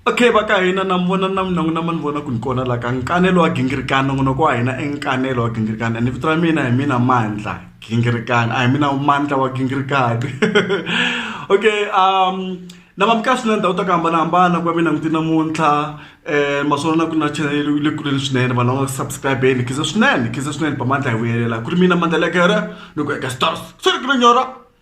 Okay va ka hina na mi vona na mina na ma ni vona ku ni kona la ka nkanelo wa gingirikani nongonoko wa hina i nkanelo wa gingirikani and vito ra mina hi mina Mandla gingirikani a hi mina Mandla wa gingirikani okay um na va mi kahle swinene ndhawu ta ku hambanahambana ku va mi langute namuntlha um maswona na ku na chanel le kuleni swinene vanhu va nga ku subscribeni khize swinene khize swinene ba mandla hi vuyelela ku ri mina mandla lekere ni ku eka stars swi ri ku ni nyora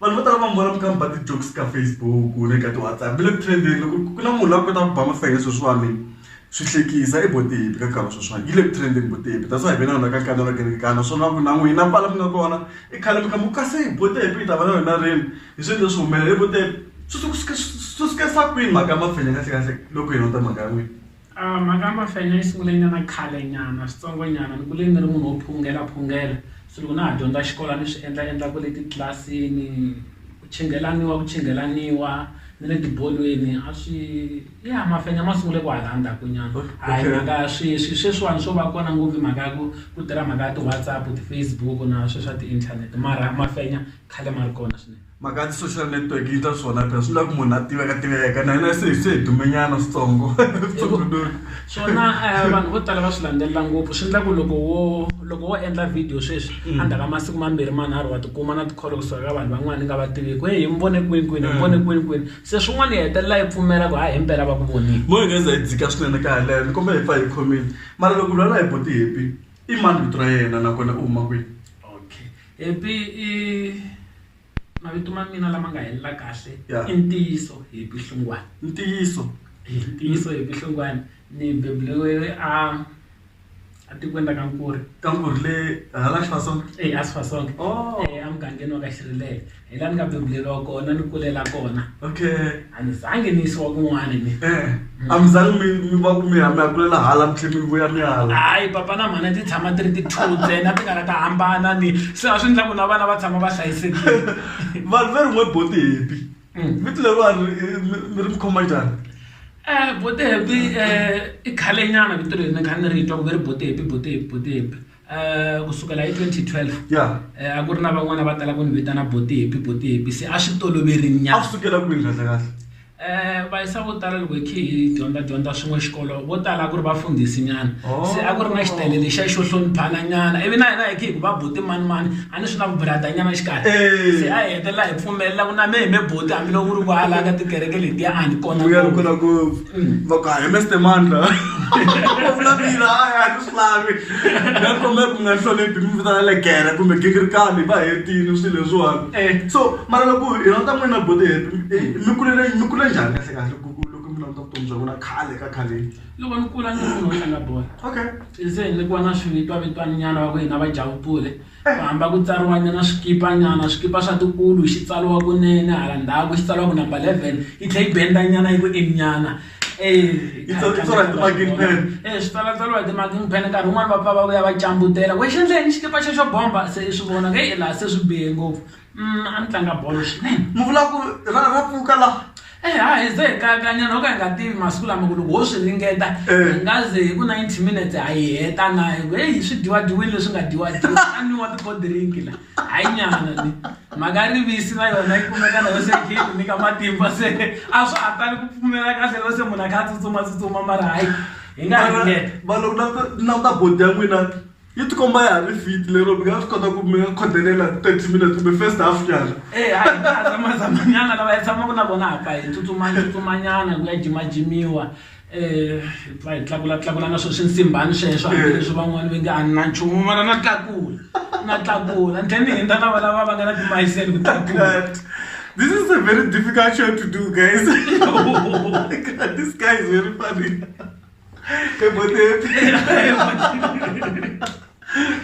vanhu vo tala va mi vona mi kha mi ba ti-jokes ka Facebook na le ka ti-WhatsApp mi le ku trend-eni loko ku na munhu la ku kotaka ku ba mafenya sweswiwani swi hlekisa i bo tipi ka nkarhi wa sweswiwani yi le ku trend-eni bo tipi that's why hi ve na yona ka nkarhi wa kerekani naswona ku na n'wina kwala mi nga kona i khale mi kha mi kasi bo tipi hi ta va na yona rini hi swi endle swi humelela i bo tipi swi swi swi swi sukisa kwini mhaka mafenya kahlekahle loko hi languta mhaka ya n'wina. A mhaka ya mafenya yi sungule nyana khale nyana switsongo nyana ni kule ni ri munhu wo phungela phungela so loko na ha dyondza xikolo a ni swi endla endla kwale titlilasini ku chinghelaniwa ku chinghelaniwa ni le tibolweni a swi ya mafenya ma sungule kwahala ndzhaku nyana a hi mhaka ya sweswi sweswiwani swo va kona ngopfu hi mhaka ya ku ku tirha mhaka ya ti WhatsApp ti Facebook na swe swa ti inthanete mara mafenya khale ma ri kona swinene. mhaka ya ti-social network yi ta swona phela swi lava ku munhu a tiveka tiveka na hina se se hi dumenyana switsongo swona eh, vanhu vo tala va swi landzelela ngopfu swi endla ku loko wo loko wo endla video sweswi mm. a ndzhaka masiku mambirhi manharhu wa tikuma na tikholo kusuka ka vanhu van'wana ni nga va tiviki he hi mi vone kwini kwini hi mi vone mm. kwini kwini se swin'wana yi hetelela yi pfumela ku ha hi mpela va ku vonile mo hi nga za hi dzika swinene ka haleno ni komba hi pfa hi khomile mara loko lwana hi boti hepi i mani vito ra yena nakona u huma kwini Happy i mavito ma mina lama nga helela kahle i ntiyiso Happy Hlungwane ntiyiso i ntiyiso Happy Hlungwane ni beburiwe a a tikweni ra ka Nkuri ka Nkuri le hala Xifasonga eya Xifasonga emugangeni wa ka Xirilelo. Hi la ni nga bebuleriwa kona ni kulela kona. Okay. A ni zangi ni yisiwa kun'wani ni. Eh. A mi zangi mi mi va ku mi ya mi ya kulela hala mi tlhe mi vuya mi ya hala. Hayi papa na mhana ti tshama ti ri ti two ntsena ti nga la ta hambana ni se a swi ndla ku na vana va tshama va hlayisekile. Vanhu ve rin'we bo Tihepi. Vito leriwani mi ri mi khoma njhani? bo Tihepi i khale nyana vito leri ni kha ni ri twa ku ve ri bo Tihepi bo Tihepi bo Tihepi. um ku sukela hi twenty twelve ya um a ku ri na van'wana va tala ku ni vitana botihepi botihepi se a swi toloveri a nyana swi sukela kwini kahle kahle um vayisa vo tala loko hi khe hi dyondza dyondza swin'we xikolo vo tala a ku ri vafundhisi nyana Oh. se a ku ri na xitele lexiya xo hloniphana nyana ivi na hina hi khe hi ku va boti mani mani a ni swi na vubrata nyana xikarhi Eh. se a hi hetelela hi pfumelela ku na me hi me boti hambiloko ku ri kwala ka tikereke letiya a ni kona vuyelo ngopfu. kona ngopfu va ku hayi meste mandla u vulavula hayi a ku swi lavi na kombe ku nga hloniphi mi vitana legere kumbe gingirikani va hetini swilo leswiwani eh. so mara loko hi rhandza n'wina bode hepi mi kulele mi kule njhani kahle kahle ku loko mi languta vutomi bya n'wina khale ka khaleni loko ni kula ni munhu wo tlanga bolo okay se ni kuva na swivitwavitwani nyana va ku hina va jawutule Ku hamba ku tsariwanyana swikipanyana, swikipa swa tiulu, xi tsariwa kunene, hala ndzhaku xi tsariwa ku number 11, yi tlhela yi bendanyana yi ku in-nyana. Yi tsariwa hi ti-marking pen. E swi tsalatsariwa hi ti-marking pen, nkarhi wun'wani va pfa va vuya va cambutela, wena xi endle yini xikipa xexo bomba? Se i swi vona ku heyi laha se swi bihe ngopfu. Mm, a ni tlanga bolo swinene mi vula ku ra ra pfuka la e eh, ha hi ze hi kayakanyana ho ka hi nga tivi masiku lama ku loko ho swi ringeta eh. hi nga ze hi ku ninety minutes ha yi heta na hi ku heyi swi dyiwadiwini leswi nga dyiwadiwa a niwa ti-cold drink la ha yi nyana ni mhaka rivisi na yona yi kumeka na yo se khe yi nyika matimba se a swa ha tali ku pfumela kahle loko se munhu a kha a tsutsumatsutsuma mara hayi hi nga ringeta va loko na ta bodi ya n'wina yi tikomba ya ha ri fit lero mi nga swi kota ku mi nga khodelela thirty minutes kumbe first half nyana Eh, a hi nga zamazamanyana lava hi tshamaka na vona hapa hi tsutsuma tsutsumanyana ku ya jimajimiwa um hi pfa hi tlakula tlakula na swo swi nsimbhani sweswo hambileswi van'wani va nge a ni na nchumu mara na tlakula na tlakula ni tlhe ni hindza lava lava va nga na timayiseli ku tlakula That- this is a very difficult show to do guys this guy is very funny Eu botei o tênis.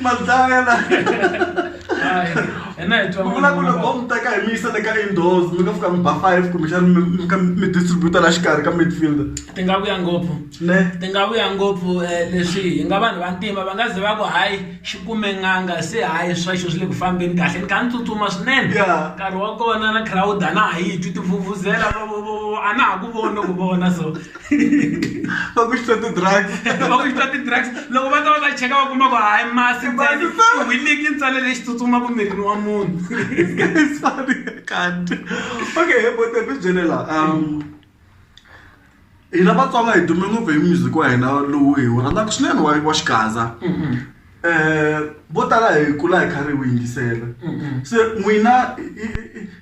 Mazaya la. Ena hi twa. Vula ku loko mi teka hi mi yisa le ka indoors mi nga fika mi ba five kumbexana mi mi ka mi distributa la xikarhi ka midfielder Ti nga vuya ngopfu. ne Ti nga vuya ngopfu eh, leswi hi nga vanhu va ntima va nga ze va ku hayi xi kume nganga se hayi sweswo swi le ku fambeni kahle ni kha ni tsutsuma swinene. Yeah. Nkarhi wa kona na crowd a na ha yi twi tivhuvhuzela vo- vo- vo- vo- a na ha ku voni ku vona so va ku xitati drugs va ku xitati drugs loko va ta va ta cheka va kuma ku hayi masi ntsawiliki ntsale lexi tsutsumaka mirini wa munhu kanti okay he bote ku byele la um hina vatsonga hi dume ngopfu hi music wa hina lowu hi wu rhandzaka swinene wa wa xigaza mm-hmm. um vo tala hi kula hi karhi hi wu yingisela se n'wina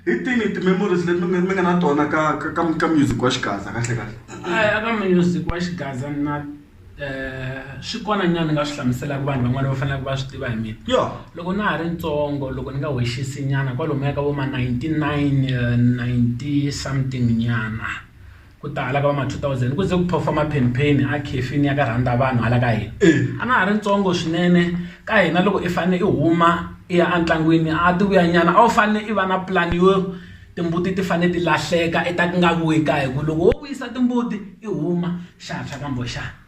hi tini ti-memories leti mi mi nga na tona ka ka ka ka music wa xigaza kahle kahle eka music wa xigaza na um swi kona nyana ni nga swi hlamuselaka vanhu van'wani va faneleke va swi tiva hi mina yo loko na ha ri ntsongo loko ni nga wexisi nyana kwalomuya ka vo ma ninety nine ninety something nyana. ku tala ka va ma 2000 ku ze ku phofa maphenpheni a khefini ya ka rhandavanhu hala ka hina a na ha ri ntsongo swinene ka hina loko i fanele i huma i ya entlangwini a ti vuya nyana a wu fanele i va na pulani yo timbuti ti fanele ti lahleka i ta ku nga vuyi kaya hi ku loko wo vuyisa timbuti i huma xa tshwa kambe xa.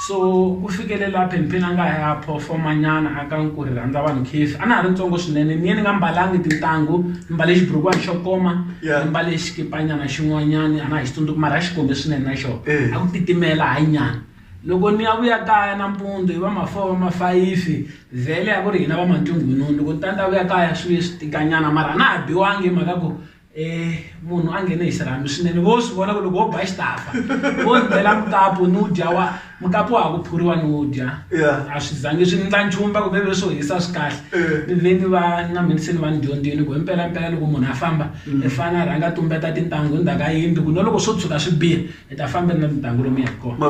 so ku fikele laha phenpheni a nga ya phofomanyana a ka ku ri rhandza vanhu khefi a na ha ri ntsongo swinene ni ye ni nga mbalangi tintangu ni mbale xiburukwani xo koma ni mbale xikipanyana xin'wanyani a na ha xi tsundzuki mara a xi kombe swinene na xona eh. a ku titimela hayi nyana loko ni ya vuya kaya nampundzu hi va mafour va mafayifi vhele ya ku ri hina va mantungununu loko ni ta ni ta vuya kaya swi ve swi tikanyana mara a na ha biwangi hi mhaka ku um munhu a nghene hi xirhami swinene vo swi vona ku loko wo ba xitafa vo ndlela mukapu ni wu dya wa mukapu wa ha ku phuriwa ni wu dya a swi zangi swi ndla nchumu va ku veve swo hisa swi kahle ni ve ni va na mhnisini va ni dyondzini ku hi mpelampela loko munhu a famba i fane a rhanga tumbeta tintangu hi ndzhaka yindlu ku na loko swo tshuka swi biha hi ta fambeni na tintangu lomu ya hi kona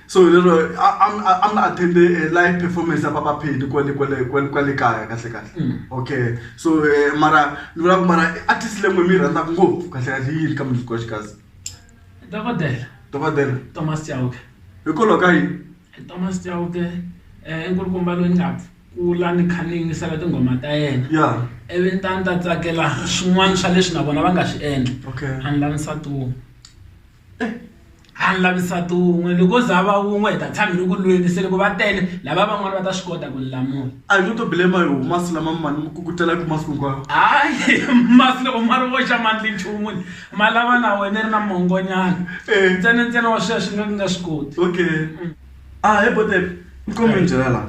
So hi lero a a mi a mi attend live performance ya Papa Penny kwale kwale kwale kwale kaya kahle kahle okay so mara ni vula ku mara i artist leyi n'wina mi yi rhandzaka ngopfu kahle kahle i yini ka Music Wa Xigaza dokodela dokodela Thomas Chauke hikwalaho ka yini Thomas Chauke i nkulukumba loyi ni nga kula ni kha ni yingisela tinghoma ta yena ya ivi ni ta ni ta tsakela swin'wana swa leswi na vona va nga swi endla okay a ni lavi nsati wun'we. a ni lavi nsati wun'we loko wo za a va wun'we hi ta tshama hi ri ku lweni se loko va tele lava van'wani va ta swi kota ku ni lamula a hi ngo to blame hi wo masi lama mi ma ni mi kukutelaku masiku hinkwawo hayi masi loko ma ri voxa ma ndli nchumu ni ma lava na wena i ri na mongonyana Eh. ntsena ntsena wa sweswi nga ku nga swi koti okay a hi bote nkomi ni byela la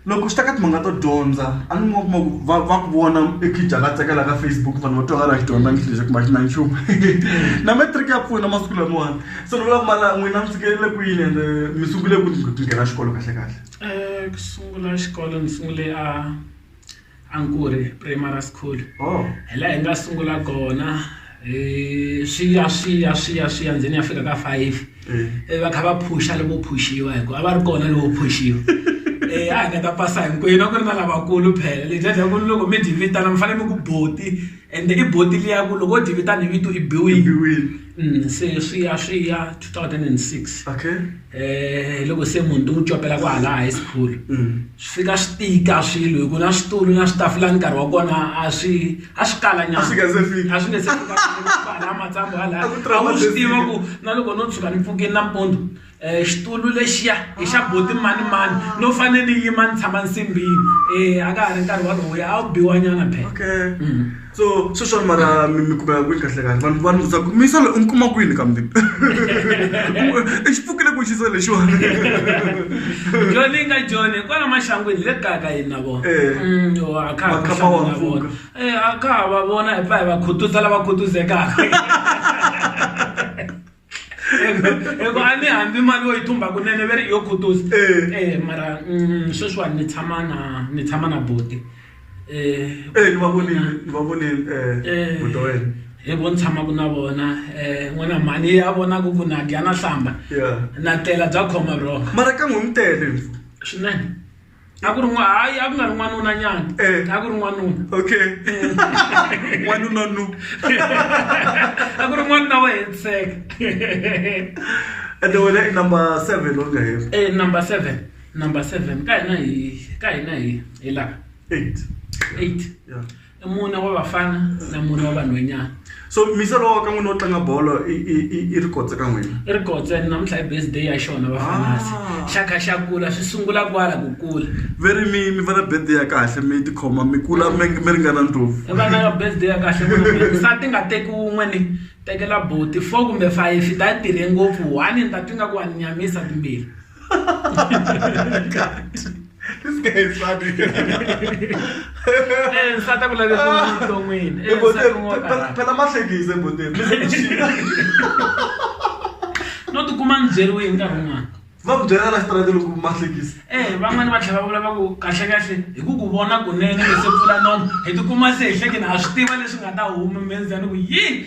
loko swi ta ka timhanga to dyondza a ni kuma kuma ku va va ku vona ekija va tsakela ka facebook vanhu va twakala xi dyondza ngihlile kumba xi na nchumu na matric ya pfuna masiku lamawani se ni vula ku mala n'wina mi fikelele kwini ende mi sungule ku nghena xikolo kahle kahle Eh, ku sungula xikolo ni sungule a A ni ku ri primary school hi laha hi nga sungula kona hi swi ya swi ya swi ya swi ya ndzeni ya fika ka five ivi va kha va phusha loko phuxiwa hi ku a va ri kona loko phuxiwa a hi nga ta pasa hinkwenu a ku ri na lavakulu phela loko mi dyi vitana mi fanele mi ku buti. And i buti liya ku loko wo dyi vitana hi vito i biwile i biwile se swi ya swi ya two thousand and six okay hi loko se munhu ni n'wi copela kwahala high school swi fika swi tika swilo hi ku na switulu na switafula ni nkarhi wa kona a swi a swi kala nyana a swi nga se fika a swi nga se fika matsambu hala a wu swi tiva ku na loko no tshuka ni pfukini nampundzu. xitulu lexiya i xa buti mani mani no fane ni yima ni tshama nsimbini eh a ka ha ri nkarhi walowuya a wu biwa nyana phela okay mm. so sweswani mara mi mi kumeka kwini kahle kahle vanhu vanhu byaka misa loyi u mi kuma kwini kambe i xi pfukile ku xisa lexiwani joni yi nga joni kwala maxangwini le kaya ka yini na vona eh. mm, a kha ha na vona eh, a kha ha va vona hi pfa hi va khutuzela va khutuzekaka eku a ni hambi mali wo yi thumba kunene ve ri yo khutuza um eh, mara mm, sweswiwani ni tshama na ni tshama na boti um ni va vonile ni va vonile um buti wa wena hi vo ni tshamaka na vona um n'wana mhani ya vonaka ku na dya na hlamba na tlela bya khoma bro mara ka n'wi mi tele swinene a ku ri n'wa hayi a ku nga ri n'wanuna nyana Eh. a ku ri n'wanuna okay wanuna nu a ku ri n'wanuna wa hetiseka ende wena i number seven u nga heri Eh, number seven number seven ka hina hi ka hina hi hi laha eight eight yeah i mune wa vafana na mune wa vanhwenyana so misa lowa ka n'wina wo tlanga bolo i ri kotse ka n'wina i ri kotse namuntlha i base day ya xona vafanasi ah. xakha xa kula swi sungula kwala ku kula ve ri mi mi va na birthday ya kahle mi tikhoma mi kula mi mi ringana ndlopfu i va na birthday ya kahle nsati nga teki wun'we ni tekela boti four kumbe five ta tirhe ngopfu one ni ta twi nga ku wa ni nyamisa timbirhi this guy is funny eh nsata ku lave vuton'wini eh, ah. phela mahlekise boteni no tikuma ni byeriwe hi nkarhi wun'wana va ku byela la xitarata loko mahlekisi e eh, van'wani va tlhela va vula va ku kahlekahle hi ku ku vona kunene lese pfula nomo hi tikuma se hi hlekeni ha swi tiva leswi nga ta huma menzani ku yini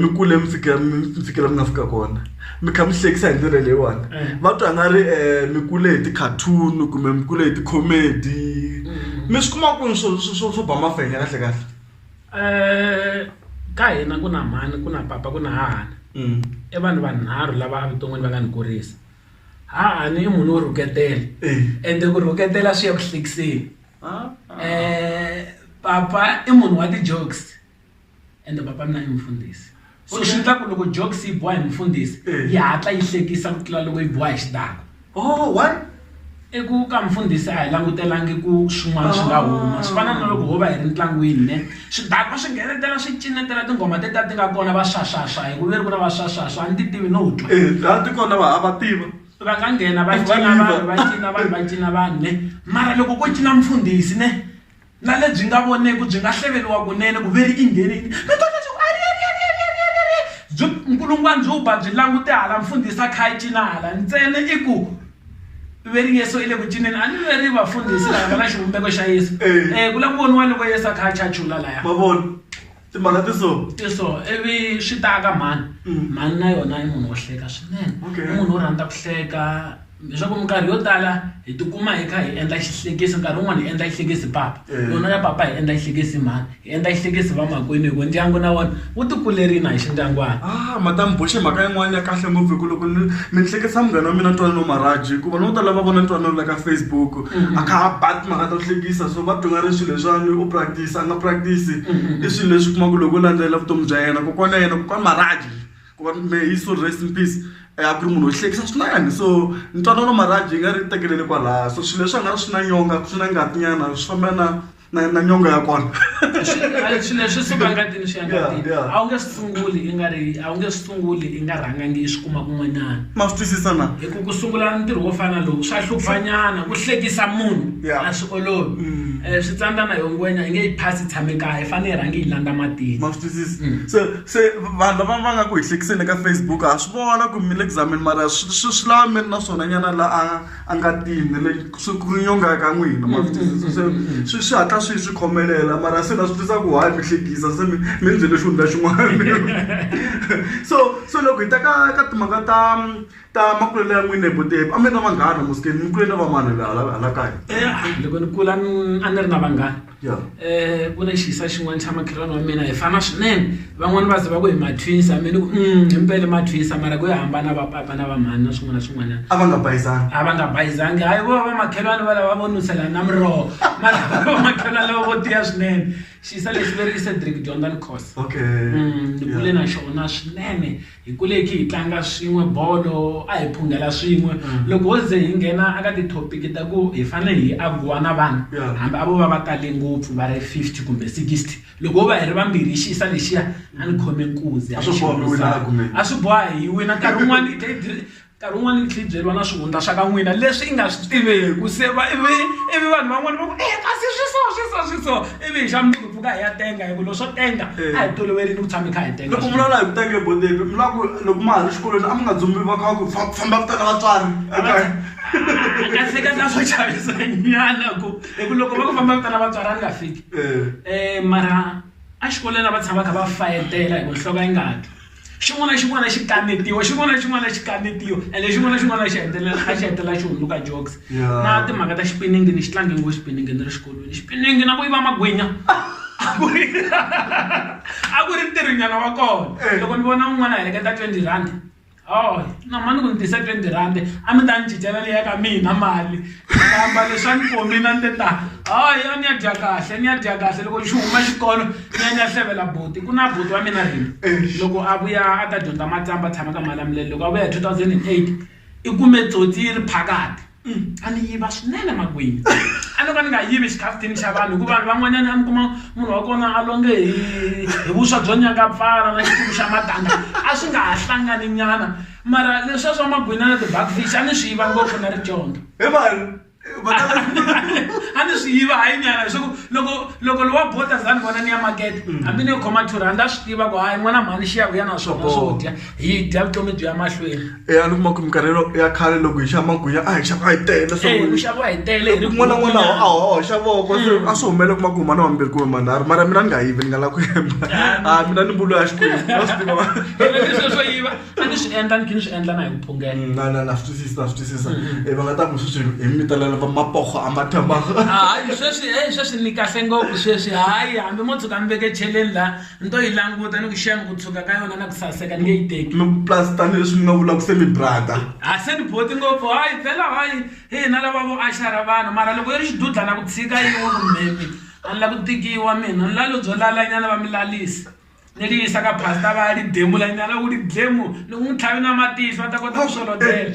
mi kule mi fika mi mi fikela mi nga fika kona mi kha mi hlekisa hi ndlela leyiwani va twa nga ri um mi kule hi ti-cartoon kumbe mi kule hi ti-comedy mi swi kuma kwini swo swo- swo swo ba mafenya kahle kahle um ka hina ku na mhani ku na papa ku na hahani Mm. i vanhu vanharhu lava evuton'wini va nga ni kurisa hahani i munhu wo rhuketela Eh. ende ku rhuketela swi ya ku hlekiseni Ah, ah. um papa i munhu wa ti-jokes ende papa mina i mufundhisi so swi ta ku loko jokes yi boha hi mufundhisi eh. yi hatla yi hlekisa ku tlula loko yi boha hi xitako oh why i ku ka mufundhisi a hi langutelangi ku swin'wana swi nga huma swi fana na loko ho va hi ri ntlangwini ne swidakwa swi nghenetela swi cinetela tinghoma teta ti nga kona va swaswaswa hi ku veri ku na va swaswaswa a ni ti tivi no twa eh, laha ti kona va hava tiva va nga nghena va cina vanhu va cina vanhu va cina vanhu ne mara loko ko cina mufundhisi ne Na lebyi nga voneki byi nga hleveriwa kunene, ku ve ri ingheneni, mi ta twa swaku, Ariariariariariariari! Byi, nkulungwani byi ba byi langute hala, mfundhisi a kha a cina hala. Ntsena i ku, i ve ri Yesu i le ku cineni. A ni ve ri vafundhisi lava va na xivumbeko xa Yesu. E, ku lava ku voniwa loko Yesu a kha a chachula laya. Ma vona? timhaka ti so ti so ivi swi ta ka mhani mm. mhani na yona i munhu wo hleka swinene i munhu wo rhandza ku hleka leswaku minkarhi yo tala hi tikuma hi kha hi endla xihlekisi nkarhi wun'wana hi endla xihlekisi papa eh. yona ya papa hi endla xihlekisi mhani hi endla xihlekisi va makwenu hi ku ndyangu na wona wu tikulerina hi xindyanguwana ah madam boxe mhaka yin'wana ya kahle ngopfu hi ku loko mi ni hlekisa munghana wa mina ntwanano maraji hikuva no tala va vona ntwanano la ka facebook mm-hmm. a kha a bat mhaka ta hlekisa so va byonga leswi leswiwani u practice nga practice i swilo leswi u kuma ku loko u landzelela vutomi bya yena kokwana ya yena kokwana Marhadi kokwana may his soul rest in peace a ku ri munhu wo hlekisa swinene so ntwanano Marhadi yi nga ri tekelele kwalaya so swilo leswi a nga ri swi na nyonga swi na ngati nyana swi famba na na na nyonga ya kona. sunguli i nga rhangangi i swi kuma kun'wanyana ma swi twisisa na hi ku ku sungula ntirho wo fana lowu swa hluphanyana ku hlekisa munhu Yeah. a swi olovi um switsandzana yo ngwenya yi nge yi phasi tshame kaya i fanele yi rhangi yi landza matini ma swi twisisa se se vanhu lava va nga ku hi hlekiseni eka facebook ha swi vona ku mi le ku zameni mara swi swi- swi lava mi ri na swona nyana la a a nga tini le swi ku nyonga ka n'wina ma swi twisisa se swi swi hatla swi swi khomelela mara se na swi tisa ku hayi mi hlekisa se mi mi ndzi le xihundla xin'wana so so loko hi ta ka ka timhaka ta ta makulelo ya n'wina hi vutepi a mi ri na vanghana musikeni mi kule na va mani hala hala kaya loko ni kula a ni ri na vanghana um ku na xiisa xin'wana xa makhelwani wa mina hi fana swinene van'wani va ze va ku hi mathwisa mina ku um hi mpele mathwisa mara ku yo hambana va papa na va mhani na swin'wana na swin'wana a va nga bayizangi a va nga bayizangi hayi vo va makhelwani va lava vo nuselana na miroho mara va makhelwani lava vo tiya swinene xiisa lexi ve ri i cedric dyondzani course okay ni kule na xona swinene Hi kuleki hi tlanga swin'we bolo, a hi phunghela swin'we. Loko ho ze hi nghena eka tithopiki ta ku hi fanele hi agiwa na vanhu, hambi a vo va va tale ngopfu va ri 50 kumbe 60, loko ho va hi ri vambirhi hi xiyisa lexiya, a ni khome nkuzi, a hi xi lwisana. A swi boha hi wina, nkarhi wun'wana hi tlhela hi. nkarhi wun'wana yi tlhela yi byeriwa na swihundla swa ka n'wina leswi i nga swi tiveki se va ivi ivi vanhu van'wana va ku e kasi swi so swi so swi so ivi hi xa mundzuku pfuka hi ya tenga hi ku loko swo tenga a hi toloverini ku tshama hi kha hi tenga loko vulavula hi ku tenge bodepe mi lava ku loko ma ha ri xikolweni a mi nga dzumbi va kha ku fa- famba vitana vatswari ekaya kasi ka ka swo chavisa nyana ku hi ku loko va ku famba vitana vatswari a ni nga fiki Eh. um mara exikolweni a va tshama kha va fayetela hi ku nhloko yi nga twi Xin'wana na xin'wana xi kanetiwa xin'wana na xin'wana xi kanetiwa ende xin'wana na xin'wana xi hetelela a xi hetelela xi hundzuka jokes na timhaka ta xipiningi ni xi tlange ngopfu xipiningi ni ri xikolweni xipiningi na ku yiva magwinya a ku ri a ku ri ntirho nyana wa kona loko ni vona un'wana a heleketa twenty rand na mhani ku ni tisa twenty rand a mi ta ni cincela liya ka mina mali. kamba leswa ni pomina ni te ta hayi a ni ya dya kahle ni ya dya kahle loko xi huma xikolo ni ya ni ya hlevela buti ku na buti wa mina rini loko a vuya a ta dyondza matsamba tshama ka malamulelo loko a vuya hi 2008 i kume tsotsi yi ri phakati a ni yiva swinene makwini a no ka ni nga yivi xikhafuthini xa vanhu hikuva vanhu van'wanyana a mi kuma munhu wa kona a longe hi hi vuswa byo nyaka pfala na xituku xa matanga a swi nga ha hlangani nyana mara leswa swa magwina na ti-bugfish a ni swi yiva ngopfu na ri dyondza Hi vanhu. Va ta a ni swi yiva hayi nyana leswaku loko loko lowa bota za ni vona ni ya makete hambi ni yo khoma two rand a swi tiva ku hayi n'wana mhani xiya ku ya na swona swo dya hi dya vutomi byi ya mahlweni Eh, a ni kuma ku minkarhi yo- ya khale loko hi xava magwinya a hi xava hi tele Eh, swin'wana. ku xaviwa hi tele hi ri kun'wana na kun'wana kun'wanyana. a hoxa voko se a swi humelela kuma ku huma na wambirhi kumbe manharhu mara mina ni nga yivi ni nga la ku yemba a mina ni mbulu ya xikwembu a swi tiva Hi ri leswi swo yiva a ni swi endla ni khe ni swi endla na hi vuphungela mm, na na na swi twisisa na swi twisisa mm, mm. e va nga ta ku sweswi hi mi vitanela va mapoho a mathamaha ah, hayi sweswi e sweswi ni kahle ngopfu sweswi hayi hambi mo tshuka mi veke cheleni la ni to yi languta ni ku xema ku tshuka ka yona na ku saseka ni nge yi teki plus tanihileswi mi nga vula ku se mi brada a ah, se ni boti ngopfu hayi phela hayi hi hina lava vo axara vanhu mara loko yi ri xidudla na ku tshika yi wo ku mhemi a ni la ku tikiwa mina ni lalo byo lalanyana va mi lalisa ni ri yisa ka pastor va ya ri demula nyana loko ri dlemu loko n'wi tlhavi na matihlo va ta kota ku swolotela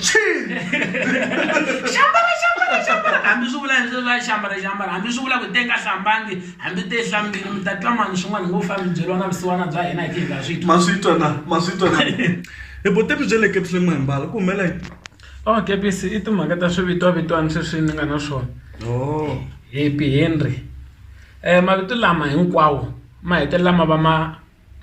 xambara xambara xambara hambi swi vula leswi va xambara xambara hambi swi vula ku te nga hlambangi hambi te hlambile mi ta twa mani swin'wana ngo fambi byeriwa na vusiwana bya hina hi tihi nga swi twa swi twa na ma swi twa na hi botepi bya le ketleni ma himbala ku humela yini o oh, kepisi i timhaka ta swivitwavitwani sweswi ni nga na swona oh. hepi henry um mavito lama hinkwawo ma hetelela ma va ma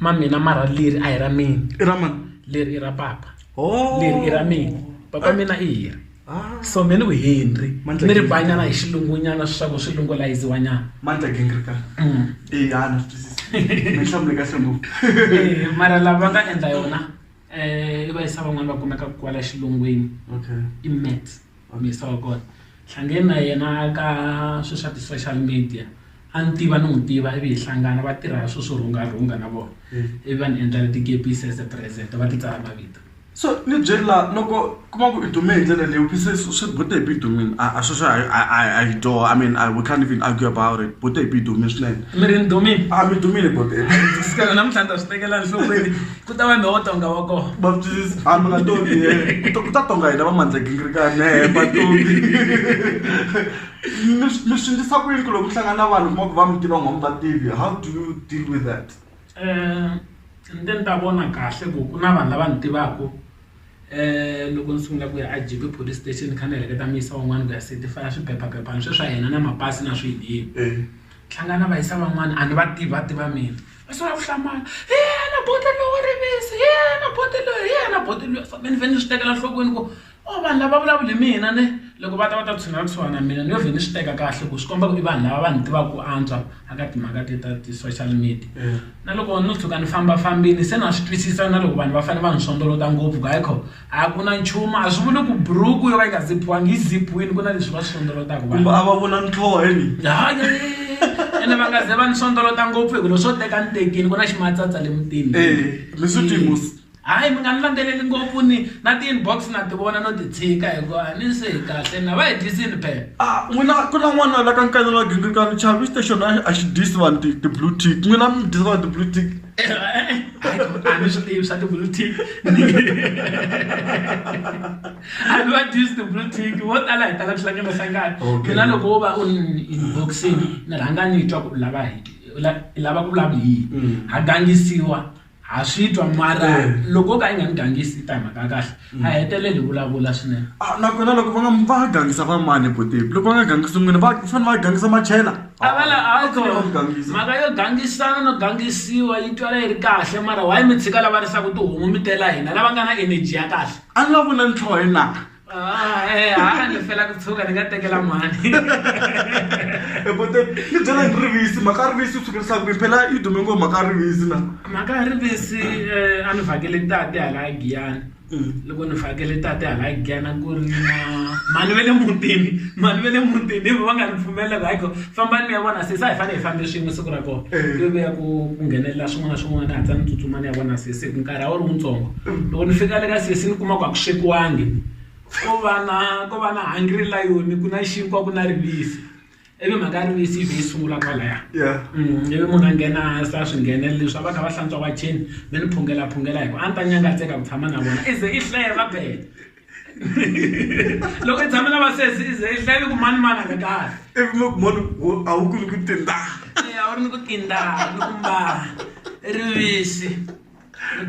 ma mina mara leri a hi ra mina i ra mani leri i ra papa oh. leri i ra mina papa ah. mina i hiri ah. so me ni ku henry ni ri vanyana hi xilungunyana swaku swi lungulayiziwanyana mandla gengrika mm. eyana swi twisisa mi hlamule kahle ngopfu eh, mara lava va nga endla yona um i va yisa van'wana va kumeka kwala xilungwini i mats wa mixer wa kona hlangene na yena ka swilo swa ti-social media a ni tiva ni n'wi tiva ivi hi hlangana va tirha swilo swo rhungarhunga na vona ivi va ni endla tikepisi as a present va ti tsala mavito so ni byeri la loko kuma ku i dume hi ndlela leyi phise swi bute hi bidumini a a sweswo a hi doo i mean we can't even argue about it bute hi bidumini swinene mi ri ni dumini a mi dumile bote namuntlha ni ta swi tekela nhlokweni ku ta va mi wo tonga wa kona va twisisa a mi nga tongi eh. Ku ta- ku ta tonga hina va mandzagingirikane he va tongi mi swi- mi swi ndlisa ku yini ku loko mi hlangana na vanhu kuma ku va mi tiva n'wa mi va tivi how do you deal with that um nte ni ta vona kahle ku ku na vanhu lava ni tivaka um loko ni sungula ku ya a jibe police station kha ni heleketa mi yisa van'wana ku ya certifya swiphephaphepha ni swe swa hina na mapasi na swiyini Eh. hlangana va yisa van'wana a ni va tivi va tiva mina va sala ku hlamala hi yena bote loyi wa rivisi hi yena bote loyi hi yena bote loyi so me ni vhele ni swi tekela nhlokweni ku o oh, vanhu lava vulavuli mina ni loko va ta va ta tshunela kusuhana na mina ni yo vhe ni swi teka kahle ku swi komba ku i vanhu lava va ni tivaka ku antswa aka timhaka te ta ti-social media eh. na loko no tshuka ni fambafambini se na swi twisisa na loko vanhu va fanele va ni sondolota ngopfu ku hayi kho a ku na nchumu a swi vuli ku buruku yo va yi nga ziphiwangi yi ziphiwini ku na leswi va swi sondolotaka kumbe a va vona ntlhoheni ene va nga ze va ni sondolota ngopfu hikulo swo teka ni tekini ku na ximatsatsa le mutini eh, hayi mi nga ni landzeleli ngopfu ni na ti-inbox na ti vona no ti tshika hikuva a ni se hi kahle na va hi dyisini phela a ah, n'wina ku na n'wana la ka nkanelo wa gingirikano chavi station a xi dyisi vanhu ti-blue tick n'wina mi dyisa vanhu ti-blue tick eh, eh, eh. Ai, como- ai, mas eu tenho usado o blue tick. I don't use the blue tick. Vo tala hi tala ku hlangana hlangana. Okay. Mina loko wo va u ni inboxing, ni rhanga ni twa ku u lava hi u la- i lava ku vulavula hi yini. Ha gangisiwa, ha swi twa mara Mm. loko o ka i nga ni gangisi i ta hi mhaka ya kahle. a heteleli hi vulavula swinene Ah, nakona loko va nga va nga gangisa va mani potepi loko va nga gangisi n'wini va fanele va gangisa machela a va la a ko Fanele va gangisa. mhaka yo gangisana no gangisiwa yi twala yi ri kahle mara why mi tshika lava risaka tihomu mi tela hina lava nga na energy ya kahle a ni va vula ntlhoho hi na Ah, eh, ha ni fela ku tshuka ni nga tekela mani E potepi ni byela ni rivisi mhaka rivisi u tshukerisaka ku phela yi dume ngo mhaka rivisi na mhaka ya rivesi a ni vhakele tate hala Giyani loko ni vhakele tate hala Giyani a ku ri na mhani va le mutini mhani va le mutini hi vona va nga ni pfumelela ku hayi ko fambani mi ya vona sesi a hi fanele hi fambe swin'we siku ra kona ku ve a ku ku nghenelela swin'wana na swin'wana ni hatlisa ni tsutsuma ni ya vona sesi hi ku nkarhi a wu ri wuntsongo loko ni fika le ka sesi ni kuma ku a ku swekiwangi ko va na ko va na hungry lion ku na xinkwa ku na rivisi. ivi mhaka ya rivisi yi vhe yi sungula kwalaya ivi munhu a nghena hansi a swi nghenela leswi a va kha va hlantswa wacheni mi ni phungelaphungela hi ku a ni ta nyangatseka ku tshama na vona i ze i hleye va bele loko i tshame na vasesi i ze i hleye ku mani mani a ri kahle ivi mi ku mani a wu ku ni ku tindaa a wu ri ni ku tindaa ni ku mbala rivisi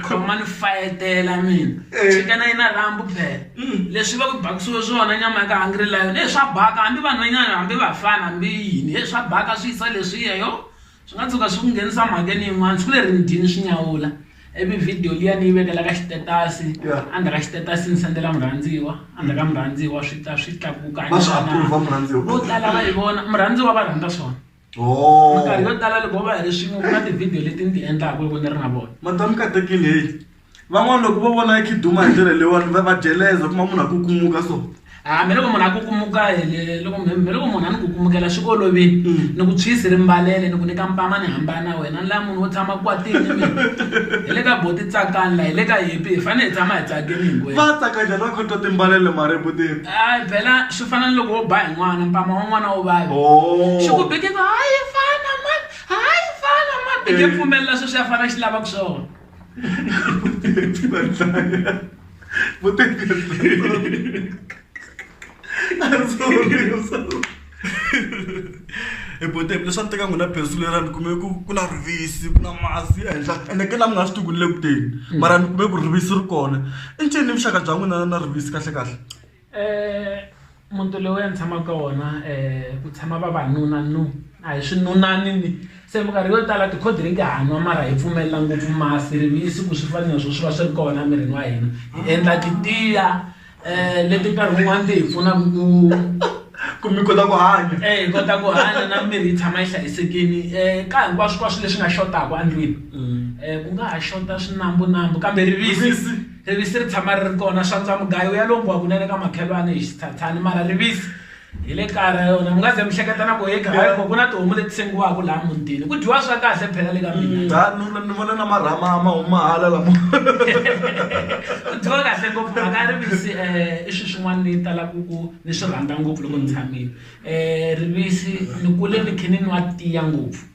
khomani fayetela mina eh. chika na yina rambu phela mm. leswi va ku bakisiwe swona nyama ya ka hungry lion e swa baka hambi vanhwanyana hambi vafana hambi yini e swa baka swi yisa leswiya yo swi nga tshuka swi ku nghenisa mhakeni yin'wana siku leri ni dyini swi nyawula ivi vhidiyo liya ni yi vekela ka xitetasi endzha ka xitetasi ni sendela murhandziwa endzha ka murhandziwa swi ta swi tlakuka vo tala va yi vona murhandziwa va rhandza swona Oh. minkarhi yo tala loko va hi ri swin'we ku na tivhidiyo leti ni ti endlaka loko ni ri na vona madam katekile heyi van'wana loko va vona khiduma hi ndlela leyiwani va va dyeleza kuma munhu a ku kumuka so ha mi loko munhu a kukumuka hele loko mi mi loko munhu a ni kukumukela swi olovile Mm. ni ku tshwisi ri mbalele ni ku nyika mpama ni hambana na wena ni la munhu wo tshama kwatini ni mina hi le ka boti tsakani la hi le ka hipi hi fanele hi tshama hi tsakini hinkwenu va tsaka njhani va khotwa timbalele mareputeri hayi bela swi fana ni loko wo ba hi n'wana mpama wa n'wana wo vava oh. xi ku bike ku hayi fana man hayi fana man bike eh. pfumelela sweswi ya fana xi lava ku swona Vou ter que. e boteni leswi a ni teka n'wina bindzu leriya ni kume ku ku na rivisi ku na masi ehenhla ene ke la mi nga swi tivi ku ni le ku teni mara ni kume ku rivisi ri kona i ncini ni vuxaka bya n'wina na rivisi kahlekahle um muti lowu a ni tshama ka wona um ku tshama vavanuna nu a hi swinunani ni se minkarhi yo tala ti-cold drink ha nwa mara hi pfumelela ngopfu masi rivisi ku swi fana na swo swi va swi ri kona emirini wa hina hi endla titiya. eh leti nkarhi wun'wana ti hi pfunaka ku ku mi kota ku hanya eh hi kota ku hanya na miri yi tshama yi hlayisekile eh ka hinkwaswo kwaswo leswi nga xotaka endlwini eh ku nga ha xota swinambunambu kambe rivisi rivisi ri tshama ri ri kona swantswa mugayo ya lombiwa kunene ka makhelwani hi xithathani mara rivisi hi le kaya ra yona mi nga ze mi hleketa na ku hi kaya ku na tihomu leti sengiwaka laha mutini ku dyiwa swa kahle phela le ka mina mm, ni vona na marhama ma huma hala lama ku dyiwa kahle ngopfu mhaka ya rivisi um eh, i swilo swin'wana ni tala ku ku ni swi rhandza ngopfu loko ni tshamile um eh, rivisi ni kule ni khe ni nwa tiya ngopfu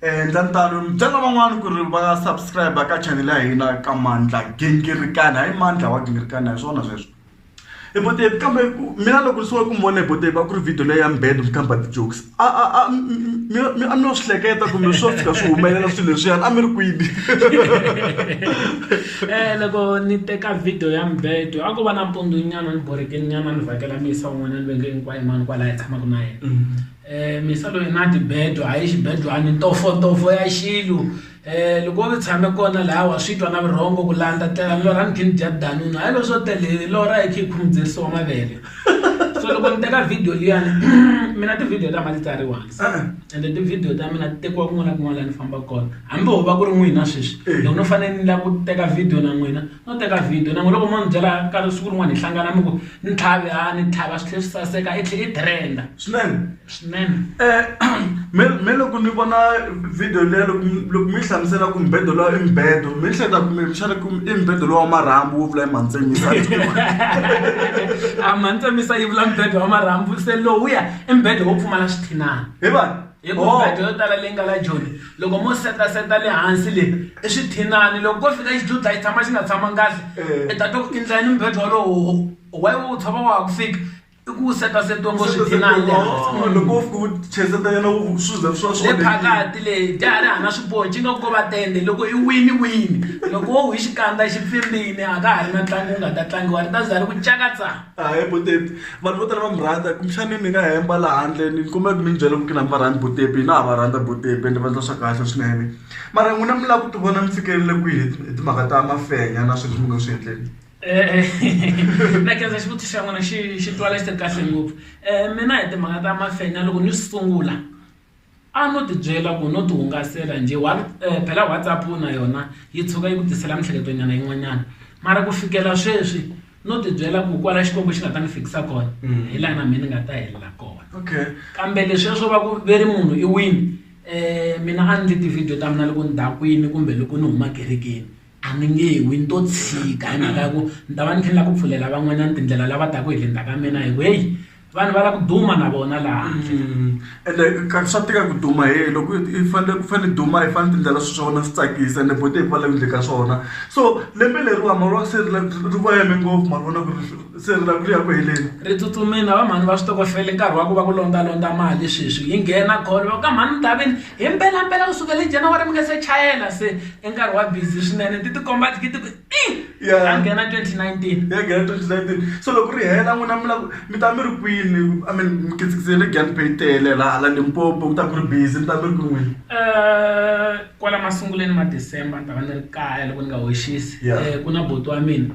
endla ntano mi byela van'wana ku ri va subscribe ka channel ya hina ka mandla gingirikani hayi mandla wa gingirikani hi swona sweswo e botevi kambe mina loko ni sungula ku mi vona hi botevi a ku ri video leyi ya mbed mi kamba ti-jokes a a a mi a mi yo swi hleketa kumbe swo fika swi humelela swilo leswiyani a mi ri kwini um loko ni teka video ya mbedo a ku va na mpundunyana ni borhekininyana ni vhakela miyisa wun'wanyana va nge hinkwayo mani kwalaho hi tshamaka na yena Eh, misa loyi na tibedwa hayi xibedlwani ntofo ya xilu eh loko u tshame kona laha wa swi twa na vurhongo ku landza tlela lora ni khini dya danunu hayi lo swo tele lora hi khi khumuzerisa wa mavele so loko ni teka video liyani mina tivhidiyo ta ma ti tsariwa ende tivhidiyo ta mina ti tekiwa kun'wana na kun'wana laha ni fambaka kona hambi ho va ku ri n'wina sweswi loko no fanele ni lava ku teka video na n'wina no teka video na n'wina loko mo ni byela nkarhi siku rin'wana hi hlangana mi ku ni tlhave a ni tlhava swi tlhe swi saseka i tlhe i trend-a swinene swinene me me loko ni vona video leya loko loko mi yi hlamusela ku mbedo lowa i mbedo mi hleketa kumbe xana ku i mbedo lowa wa marhambu wo vula i mantsemisa a mantsemisa yi vula mbedo wa marhambu se lowuya i mbedo wo pfumala swithinana hi va hi ku mbedo yo tala leyi nga la joni loko mo setaseta le hansi le i swithinani loko ko fika xidludla xi tshama xi nga tshamangi kahle Eh. i ta twa ku i ndlayini mubedwa wolowo why wo wu tshova wa ha ku fika i ku wu setasetiwe ngo swithinani le hansi Oh, loko wo fika u cheseta yena u- swi za swi va swi le onhekile. phakati le dyahari hana swipoci nga ko va tende loko i wini wini loko wo wi xikandza xi pfimbini a ka ha ri na ntlangu wu nga ta tlangiwa ri ta za ri ku cakatsa a hi butepi vanhu vo tala va mi rhandza kumbexani ni nga hemba laha handle ni kombela ku mi ni byela ku kina mi va rhandzi butepi na ha va rhandza butepi ende va ndla swa kahle swinene mara n'wina mi lava ku ti vona mi fikelele kwihi hi timhaka ta mafenya na swilo leswi mi nga swi endleni na kenza xivutiso xa n'wina xi xi twala xi ri kahle ngopfu mina hi timhaka ta mafenya loko ni sungula A no ti byela ku no ti hungasela njhe phela WhatsApp na yona yi tshuka yi ku tisela mintlhleketo nyana yin'wanyana mara ku fikela sweswi no ti byela ku kwala Xikwembu xi nga ta ni fikisa kona hi laha na mina ni nga ta helela kona kambe leswiya swo va ku ve ri munhu i wini mina a ni endli ti-video ta mina loko ni dakwini kumbe loko ni huma ekerekeni. a ni nge wi ni to tshika hi mhaka ya ku ni ta va ni kha ni lava ku pfulela van'wanyana tindlela lava taka hi le ndzhaku ka mina hi ku heyi vanhu va lava ku duma na vona laha ende swa tika ku duma heyi loko i fanele ku fanele i duma i fanele tindlela swilo swa wena swi tsakisa ende futhi hi ku va lava endleke ka swona so lembe leriwani se ri va yime ngopfu ma vona ku ri . se ri lava ku ya ku heleni ri tsutsumile va mhani va switokofele nkarhi wa ku va ku londalondza mali sweswi yi nghena call va ka mhani ndhavini hi mpelampela ku sukela hi january mi nga se chayela se i nkarhi wa busy swinene ti tikomba thikithi ku i a nghena 2019 ya nghena 2019 so loko ri hela n'wina mi lava mi ta mi ri kwini i mean mi kitsikitsele gan pay tele laha la limpopo ku ta ku ri busy mi ta mi ri kwini n'wina um kwala masunguleni ma december ni ta va ni ri kaya loko ni nga hoxisi Yeah. um ku na buti wa mina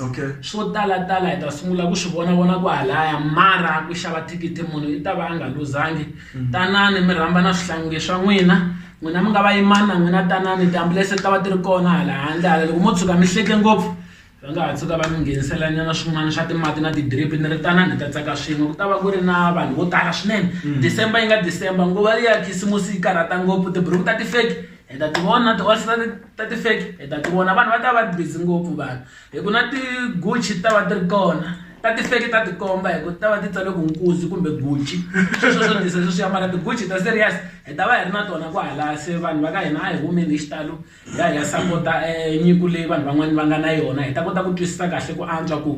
okay swo tala tala hi ta sungula ku swi vona vona ku halaya mara ku xava thikithi munhu i ta va a nga luzangi mm. tanani mi rhamba na swihlangi swa n'wina n'wina mi nga va yimani na n'wina tanani tiambulense ti ta va ti ri kona hala handle hala loko mo tshuka mi hleke ngopfu va nga ha tshuka va mi ngheniselanyana swin'wana swa timati na ti-drip ni ri tanani hi ta tsaka swin'we ku ta va ku ri na vanhu vo tala swinene mm. december yi nga december nguva ya khisimusi yi karhata ngopfu tiburuku ta ti-fake hi ta ti vona ti-all ta ti-fake hi ta ti vona vanhu va ta va ri busy ngopfu vanhu hi ku na ti-Gucci ti ta va ti ri kona ta ti-fake ta ti komba hi ku ti ta va ti tsale ku Nkuzi kumbe Gucci sweswo swo tisa sweswiya mara ti-Gucci ta serious hi ta va hi ri na tona kwahala se vanhu va ka hina a hi humeni hi xitalo hi ya hi ya sapota nyiko leyi vanhu van'wani va nga na yona hi ta kota ku twisisa kahle ku antswa ku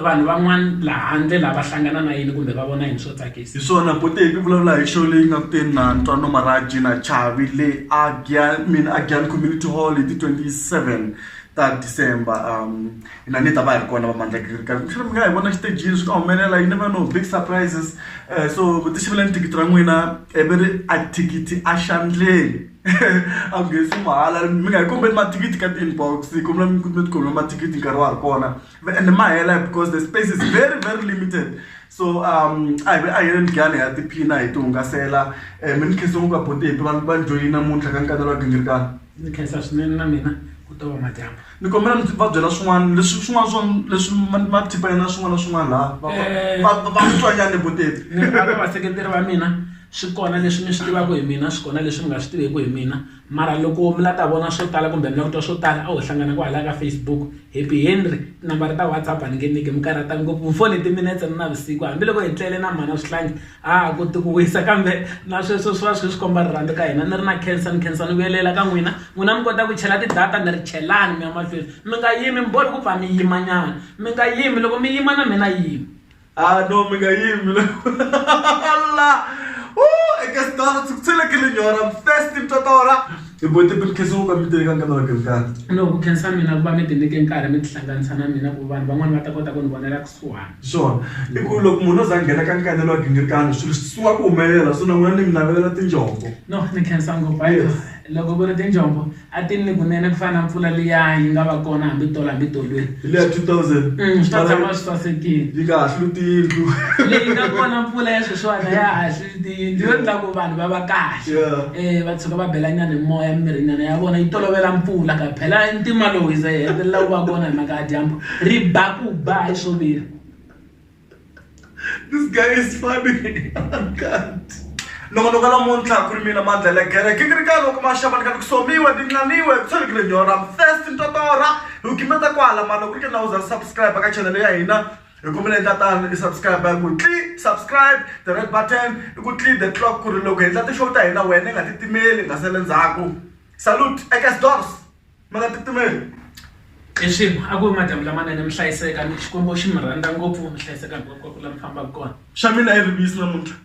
vanhu van'wana laha handle lava hlangana na yini kumbe va vona yini swo tsakisa hi swona bote hi vulavula hi show leyi nga kuteni na ntwano maraji na chavi le agian mina agian community hall hi ti 27 ta december um hina ni ta va hi ri kona vamandla girika mi nga hi vona xitejini swi nga humelela yi never no big surprises um so ku ti xavela ni thikithi ra n'wina ivi ri a thikithi a xandleni a ku nghenisi mahala mi nga hi kombeli mathikithi ka ti-inbox hi kombela mi mi tikhomela mathikithi nkarhi wa ha ri kona and ma hela because the space is very very limited so um a hi a hi yeleni gani ya tiphina hi ti hungasela um mi ni khensa ngopfu abontepi va va ni joyini namuntlha ka nkanelo wa gingirikana ndzi khensa swinene na mina ku ta va madyambu ni kombela mi va byela swin'wana leswi swin'wana swa leswi mathipa yena swin'wana na swin'wana laha va eh. twanyani vutivi ni aka vaseketeri va mina swi kona leswi mi swi tivaka hi mina swi kona leswi mi nga swi tiveki hi mina mara loko mi la ta vona swo tala kumbe mi la ku twa swo tala a ho hlangana kwalaya ka facebook happy henry tinambara ta whatsapp a ni nge niki mi karhata ngopfu mfoni timinetse ni navusiku hambiloko hi tlele na mhana swihlangi a ku ti ku wisa kambe na sweswo swi va swi kha swi komba rirhandzu ka hina ni ri na khensa ni khensa ni vuyelela ka n'wina n'wina mi kota ku chela ti-data ni ri chelani mi ya mahlweni mi nga yimi mi bori ku pfa mi yimanyana mi nga yimi loko mi yima na mina yimi a ah, no mi nga yimi la eka sitara ndzi ku tselekile nyora first ni twa tora hi bote mi khensa ku va mi tele ka nkana wa kemkani no ku khensa mina ku va mi tinike nkarhi mi tihlanganisa na mina ku vanhu van'wani va ta kota ku ni vonela kusuhana Swona i ku loko munhu o za a nghena ka nkanelo wa gingirikani swilo swi sungula ku humelela so na n'wina ni mi navelela tinjombo no ni khensa ngopfu hayi bo loko ku ri tinjombo a ti ni kunene ku fana na mpfula liya yi nga va kona hambi tolo hambi tolweni hi liya two thousand Mm, swi ta tshama swi sasekile yi nga hahluki tiyindlu leyi nga kona mpfula ya sweswiwani a ya hahli tiyindlu yo endla ku vanhu va va kahle um va tshuka va belanyana hi moya mimirinyana ya vona yi tolovela mpfula ka phela i ntima lowu iza yi hetelela ku va kona hi mhaka ya dyambu ri ba ku ba hi swo vira this guy is funny loko loko lamuntlha ku ri mina mandlela gere ke kiri ka loko maxava ni ka ni ku somiwe ti nxaniwe ku tshwere ku ri nyora first ntotora hi ku gimeta kwala mani loko ri ke na u za subscribe ka chanele ya hina hi ku vile tatana i subscribe ya ku tli subscribe the red button i ku tli the clock ku ri loko hi endla ti-show ta hina wena i nga titimeli nga sele ndzhaku salute eka stores mi nga titimeli i swilo a ku madyambu lamanene mi hlayiseka ni xikwembu xi mi rhandza ngopfu mi hlayiseka hinkwako ka ku la mi fambaka kona xa mina i rivisi namuntlha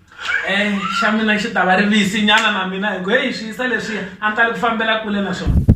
um xa mina xi ta va rivisi nyana na mina hi ku heyi swi yisa leswiya a ni tali ku fambela kule na swona